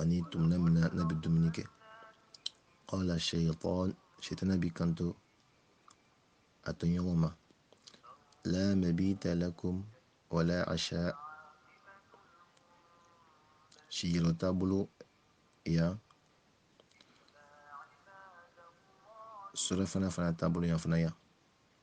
ani tuma min na n'a bɛ dumuni kɛ qala shaytan shetana b'i kanto a tɔɲɔgɔn ma la mabita lakum wala asha siyɔrɔ t'a bolo yan surɔfana fana t'a bolo yan fana yan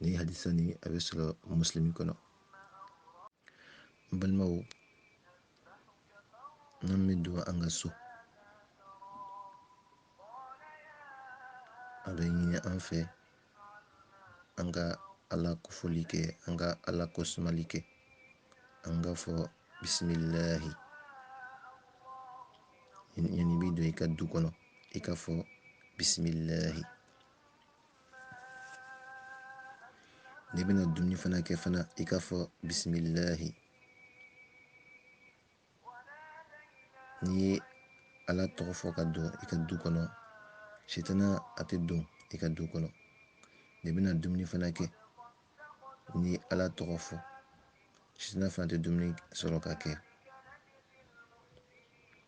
nin hadisa nin a bɛ sɔrɔ muslimi kɔnɔ n balimaw n'an bɛ don an ka so a bɛ ɲini an fɛ an ka ala kofɔli kɛ an ka ala kosumali kɛ an k'a fɔ bisimilahi yanni i bɛ don i ka du kɔnɔ i k'a fɔ bisimilahi n'i bɛna dumuni fana kɛ fana i k'a fɔ bisimilahi n'i ye ala tɔgɔ fɔ ka don i ka du kɔnɔ sitana a tɛ don i ka du kɔnɔ n'i bɛna dumuni fana kɛ n'i ye ala tɔgɔ fɔ sitana fana tɛ dumuni sɔrɔ ka kɛ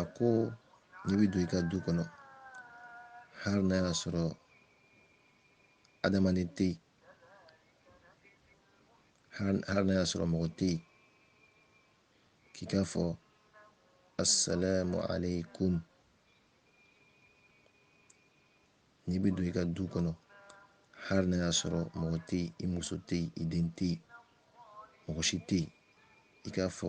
a ko n'i bɛ don i ka du kɔnɔ hali n'a y'a sɔrɔ adamaden tɛ yen hali n'a y'a sɔrɔ mɔgɔ tɛ yen k'i k'a fɔ asalamu aleykum n'i bɛ don i ka du kɔnɔ hali n'a y'a sɔrɔ mɔgɔ tɛ yen i muso tɛ yen i den tɛ yen mɔgɔ si tɛ yen i k'a fɔ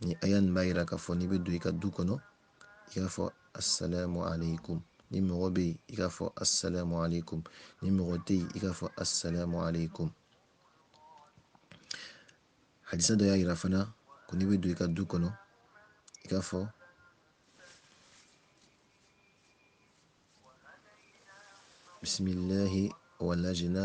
nin aya nin b'a yira k'a fɔ n'i bɛ don i ka du kɔnɔ i k'a fɔ asalamu aleykum ni mɔgɔ bɛ yen i k'a fɔ asalamu aleykum ni mɔgɔ tɛ yen i k'a fɔ asalamu aleykum hadisa dɔ y'a yira fana ko n'i bɛ don i ka du kɔnɔ i k'a fɔ bisimilahi walajina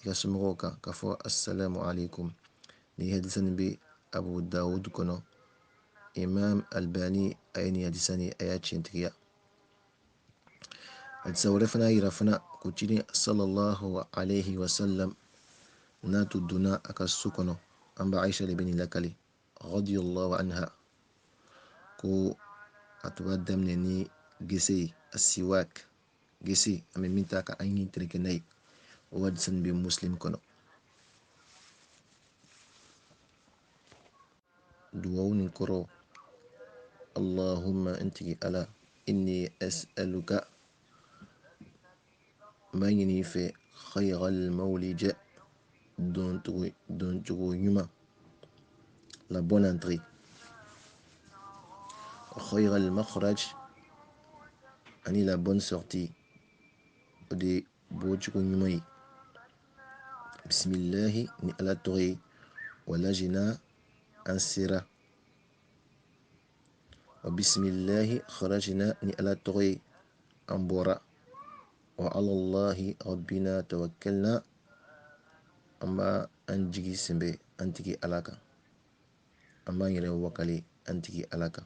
i ka somɔgɔw kan k'a fɔ assalamu alaikum nin hadisa nin bɛ abu dawud kɔnɔ imam albani a ye nin hadisa nin a y'a tiɲɛtigiya hadisa wɛrɛ fana y'a yira fana ko ciden sallallahu alaihi wasallam n'a tun donna a ka so kɔnɔ an ba aisha de bɛ nin lakali radiyallahu anha ko a tun b'a daminɛ ni gɛsɛ ye assiwak gese an bɛ min ta ka an ɲin tereke n'a ye o hadisa nin bɛ muslim kɔnɔ duwawu nin kɔrɔ allahumma n tigi ala inni as'aluka n b'a ɲini i fɛ khayral mawlija doncogo ɲuman la bonne entrée. Wa khayr al-makhraj, ani la bonne sortie. O de ye bɔcogo ɲuman ye. Bisimilahi ni Ala tɔgɔ ye, walajina an sera. wa bisimilahi kharajina ni ala tɔgɔ ye an bɔra wa alallahi rabbina tawakkalna an b'a an jigi sɛnbɛ an tigi ala kan an b'an yɛrɛ wakali an tigi ala kan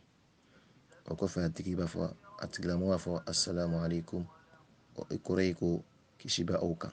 o kɔfɛ a tigi b'a fɔ a tigilamɔgɔ b'a fɔ assalamu alaikum o kɔrɔ ye ko kisi bɛ aw kan